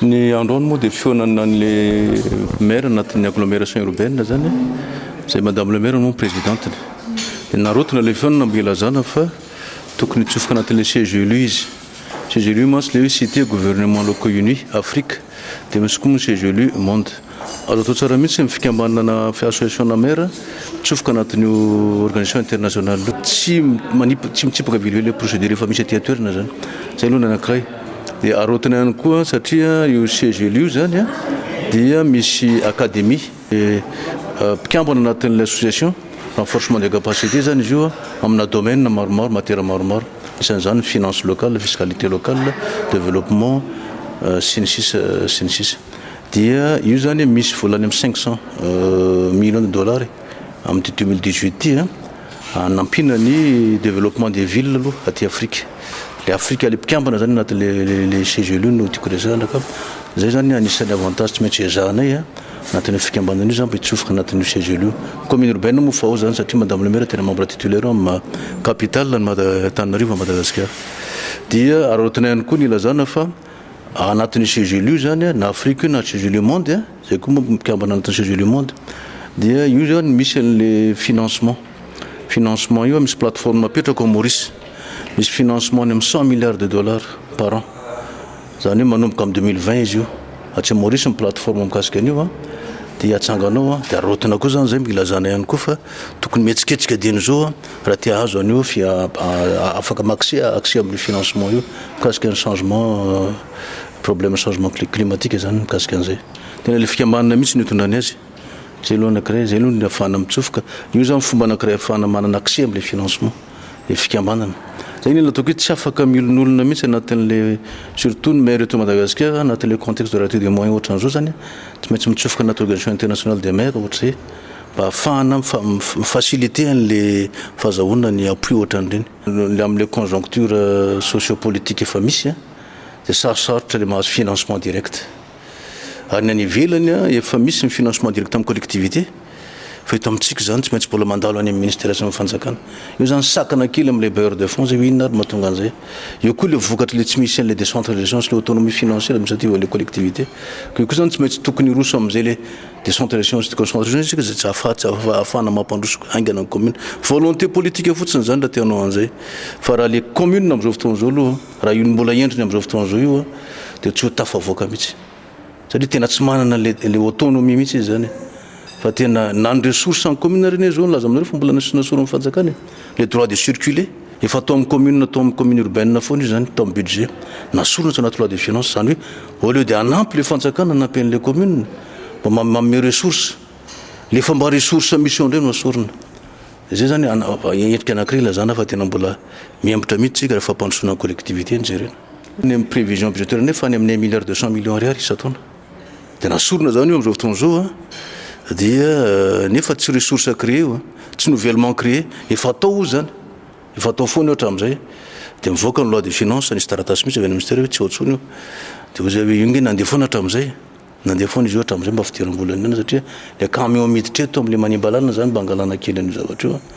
Ny androany moa dia fihaonana an'le maire anatin'ny agglomeration urbaine zany a, izay madame le maire moa no présidente-ny. Dia narotina ilay fihaonana mba ilazana fa tokony hitsofoka anatin'ilay siège élu izy. Siège élu mantsy ilay hoe cité gouvernement locaux unis, Afrique, dia misy koa moa ny siège élu monde. Azo atao tsara mihitsy ny fikambanana association na maire mitsofoka anatin'io organisation internationale io. Tsy manip- tsy mitsipaka velively le procédure efa misy aty an-toerana zany. Zay aloha ny anankiray. Dia araotina ihany koa satria io CGL io zany a dia misy académie eh, mpikambana anatin'ilay association, renforcement des capacités zany izy io a, amina domaine maromaro, matière maromaro. Isan'izany ny finance locale, fiscalité locale, développement, eh, sy ny sisa sy ny sisa. Dia io izany misy vola any amin'ny cinq cent millions de dollars e, amin'ity deux mille dix-huit ity an, hanampiana ny développement des villes aloha aty Afrika. Ilay Afrika ilay mpikambana izany anatin'ilay CGLU no tiako resahana ka izay izany anisan'ny avantages tsy maintsy ezahanay an, anatin'io fikambanana io izany mba hitsofoka anatin'io CGLU. Commune urbaine moa fa ao izany satria Madame le Maire tena membre titulaire ao amin'ny Capitale an'i Mada- Antananarivo, Madagasikara. Dia araraotina ihany koa ny ilazana fa. anatin'io CGLU io zany an, na Afrique io na CGLU monde an, zay koa manko mpikambana anatin'ny CGLU monde, dia io zany misy an'le financement, financement io an misy plateforme apetrako à Maurice, misy financement any amin'ny cent milliards de dollars par an, zany hoe manomboka amin'ny deux mille vingt izy io, atsy Maurice ny plateforme mikasika an'io an, dia atsangana ao an, dia araotina koa zany zay, ilazana ihany koa fa tokony mihetsiketsika dieny zao an. Raha te hahazo an'io fia afaka m'accès accès amin'io financement io mikasika ny changement problème changement cli climatique zany mikasika an'izay. Tena le fikambanana mihitsy no itondrany azy. Zay aloha anakiray zay aloha ny afahana mitsofoka. Io zany fomba anakiray afahana manana accès am'le financement le fikambanana. Zay ny ataoko hoe tsy afaka miolonolona mihitsy anatin'le surtout ny maire eto Madagasikara anatin'le contexte de rareté des moyens ohatran'izao zany tsy maintsy mitsofoka anaty organisation internationale des maires ohatr'izay. Mba hahafahana mi-faciliter an'ilay fahazahoana ny appui ohatran'ireny. Ny amin'ilay conjoncture sociopolitique efa misy dia sarosarotra ilay mahazo financement direct. Ary ny any ivelany efa misy ny financement direct amin'ny collectivités fa eto amintsika izany tsy maintsy mbola mandalo any amin'ny ministera sy amin'ny fanjakana. Io izany sakana kely amin'ilay bailleur de fonds izay hoe inona ary no mahatonga an'izay. Eo koa ilay vokatr'ilay tsy misy an'ilay décentralisation sy ilay autonomie financière administrative an'ilay collectivité. Koa io koa izany tsy maintsy tokony hiroso amin'izay ilay. Décentralisation sy déconcentration isika izay tsy ahafahana mampandroso haingana ny commune. Volonté politique fotsiny izany raha te hanao an'izay. Fa raha ilay commune amin'izao fotoana izao aloha, raha io no mbola endriny amin'izao fotoana izao io dia tsy ho tafavoaka mihitsy. Satria tena tsy manana ilay autonomie mihitsy izy izany e. Fa tena na ny ressources an'ny commune ary anie izao nilaza aminareo fa mbola nasiana sorony fanjakana e. Le droit de circuler, efa atao amin'ny commune atao amin'ny commune urbaine foana io zany tao amin'ny budget na sorona tsy anaty loi de finances zany hoe au lieu de hanampy le fanjakana hanampy an'le commune mba ma- manome ressources le fomba ressources misy eo indray no asorina zay zany ana- ava- endrika anankiray ilazana fa tena mbola mihemotra mihitsy tsika rehefa fampandrosoana ny collectivité no jerena ny amin'ny prévision budgétaire indray fa any amin'ny un milliard deux cent millions ariary isan-taona dia nasorina izany io amin'izao fotoana izao an, dia nefa tsy ressource à créer io an, tsy nouvellement créer, efa atao hoy izany, efa atao foana io hatramin'izay, dia mivoaka ny loi de finance, nisy taratasy mihitsy avy any ministera hoe tsy ao intsony io, dia hoy izay hoe io nge nandeha foana hatramin'izay, nandeha foana izy io hatramin'izay mba fidiram-bola nihinana satria ilay camion miditra eto amin'ilay manimba lalana izany mba hangalana kely an'io zavatra io an.